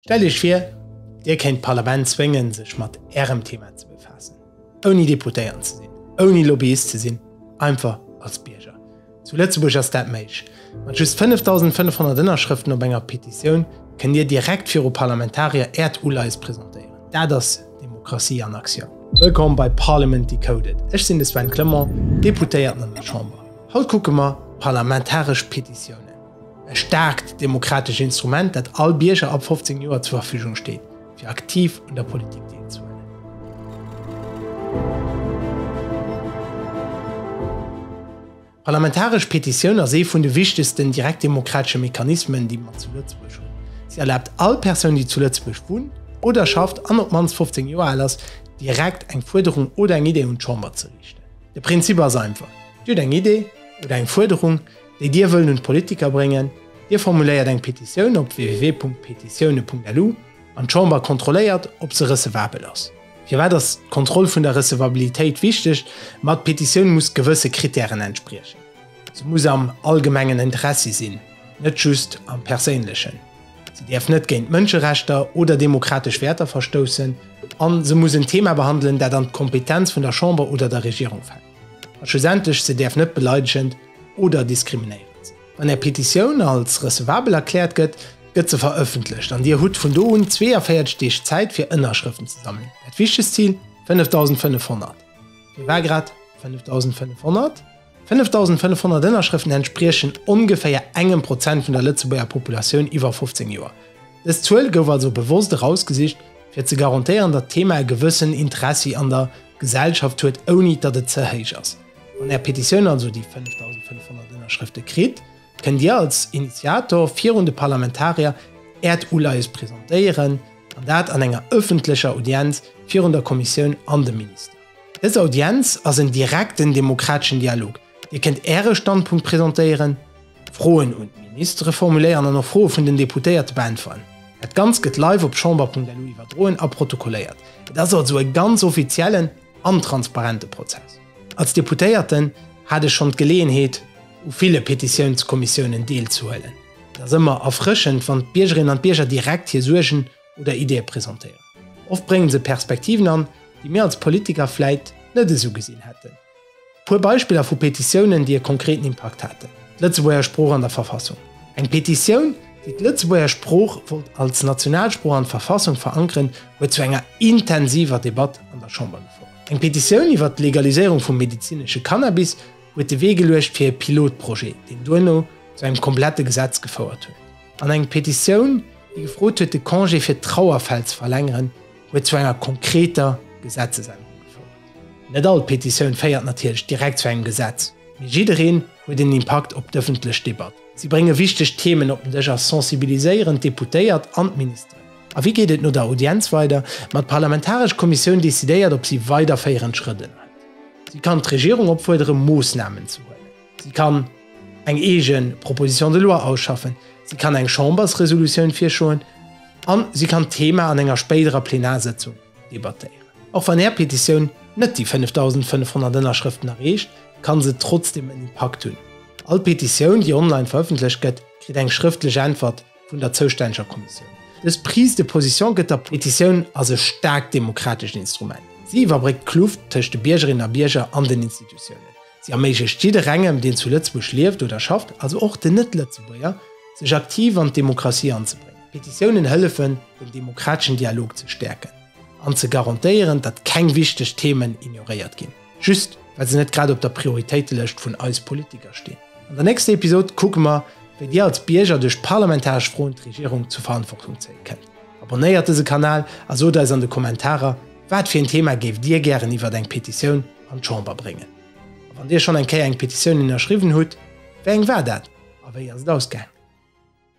Stellt Iech vir, Dir kéint d'Parlament zwéngen, sech mat Ärem Thema ze befaassen, ouni Deputéiert ze sinn, ouni Lobbyist ze sinn, einfach als Bierger. Zu Lëtzebuerg ass dat méiglech. Mat just 5.500 Ënnerschrëften op enger Petitioun kënnt Dir direkt viru Parlamentarier Äert Uleis presentéieren. Dat ass Demokratie an Aktioun. Wëllkomm bei Parliament Decoded. Ech sinn de Sven Clement, Deputéierten an der Chamber. Haut kucke mer d'parlamentaresch Petitiounen. E staarkt demokratescht Instrument, dat all Bierger ab 15 Joer zur Verfügung steet, fir aktiv un der Politik deelzehuelen. D'parlamentaresch Petitioun ass ee vun de wichtegsten direktdemokratesche Mechanismen, déi mer zu Lëtzebuerg hunn. Si erlaabt all Persoun, déi zu Lëtzebuerg wunnt oder schafft an op d'mannst 15 Joer al ass, direkt eng Fuerderung oder eng Idee un d'Chamber ze riichten. De Prinzip ass einfach, Dir hutt eng Idee oder eng Fuerderung, déi Dir wëllen un d'Politiker bréngen. Dir formuléiert eng Petitioun op www.petitioune.lu an d'Chamber kontrolléiert, ob se recevabel ass. Firwat ass d'Kontroll vun der Recevabilitéit wichteg? Ma d'Petitioun muss gewësse Krittären entspriechen. Se muss am allgemengen Interessi sinn, net just am perséinlechen. Se däerf net géint d'Mënscherechter oder demokratesch Wäerter verstoussen. A se muss en Thema behandelen, dat an d'Kompetenz vun der Chamber oder der Regierung fält. A schlussendlech, se däerf net beleidegend, oder diskriminéieren se. Wann Är Petitioun als recevabel erkläert gëtt, gëtt se verëffentlecht an Dir hutt vun do un 42 Deeg Zäit fir Ënnerschrëften ze sammelen. Dat wichtegst Zil, 5.500. Fir war grad 5.500? 5.500 Ënnerschrëften entspriechen ongeféier engem Prozent vun der Lëtzebuerger Populatioun iwwer 15 Joer. Dës Zuel gouf also bewosst erausgesicht, fir ze garantéieren, datt d'Thema e gewëssen Interessi an der Gesellschaft huet, ouni datt et ze héich ass. Wann Är Petitioun also déi 5.500 Ënnerschrëfte kritt, kënnt Dir als Initiator virun de Parlamentarier Äert Uleies presentéieren, an dat an enger ëffentlecher Audienz virun der Kommissioun an dem Minister. Dës Audienz ass en direkten demokrateschen Dialog, Dir kënnt Äre Standpunkt presentéieren, Froen un d'Ministere formuléieren an och Froe vun den Deputéierte beäntweren. Dat Ganzt gëtt live op chamber.lu iwwerdroen a protokolléiert. Et ass also e ganz offiziellen. an transparente Prozess. Als Deputéierten hat ech schonn d'Geleeënheet u ville Petitiounskommissiounen deelzehuelen. Et ass ëmmer erfrëschend, wann d'Biergerinnen an d'Bierger direkt hir Suergen oder Ideeë presentéieren. Oft bréngen se Perspektiven an, déi mir als Politiker vläit net esou gesinn hätten. Puer Beispiller vu Petitiounen, déi e konkreten Impakt haten, D'Lëtzebuerger Sprooch an der Verfassung, Eng Petitioun, déi d'Lëtzebuerger Sprooch wollt als Nationalsprooch an d'Verfassung verankeren, huet zu enger intensiver Debatt an der Chamber gefouert. Eng Petitioun iwwert d'Legaliséierung vum medezinesche Cannabis huet de Wee geluecht fir e Pilotprojet, deen duerno zu engem komplette Gesetz gefouert huet. An eng Petitioun, déi gefrot huet, de Congé fir d'Trauerfäll ze verlängeren, huet zu enger konkreter Gesetzesännerung gefouert. Net all Petitioun féiert natierlech direkt zu engem Gesetz, mee jiddereen huet en Impakt op d'ëffentlech Debatt. Si brénge wichteg Themen op den Dësch a sensibiliséieren d'Deputéiert an d'Ministeren. A wéi geet et no der Audienz weider? Ma d'parlamentaresch Kommissioun decidéiert, ob si weiderféierend Schrëtt ënnerhëlt. Si kann d'Regierung opfuerdere Moossnamen ze huelen. Si kann eng eegen Proposition de loi ausschaffen, si kann eng Chambersresolutioun virschoen a si kann d'Thema an enger spéiderer Plenarsëtzung debattéieren. Och wann Är Petitioun net déi 5.500 Ënnerschrëften erreecht, kann se trotzdeem en Impakt hunn. All Petitioun, déi online verëffentlecht gëtt, kritt eng schrëftlech Äntwert vun der zoustänneger Kommissioun. Dës Prise de position gëtt der Petitioun ass e staarkt demokratescht Instrument. Si iwwerbréckt d'Kluft tëscht de Biergerinnen a Bierger an den Institutiounen. Si erméiglecht jidderengem, deen zu Lëtzebuerg lieft oder schafft, also och den Net-Lëtzebuerger, sech aktiv an d'Demokratie anzebréngen. Petitiounen hëllefen, den demokrateschen Dialog ze stäerken an ze garantéieren, datt keng wichteg Themen ignoréiert ginn, just well se net grad op der Prioritéitelëscht vun eis Politiker stinn. An der nächster Episod kucke mer, wéi Dir als Bierger duerch parlamentaresch Froen d'Regierung zur Verantwortung zéie kënnt. Abonnéiert dëse Kanal a sot eis an de Kommentarer, wat fir een Thema géift Dir gären iwwert eng Petitioun an d'Chamber bréngen. A wann Dir schonn eng Kéier eng Petitioun ënnerschriwwen hutt, wéi eng war dat a wéi ass et ausgaang?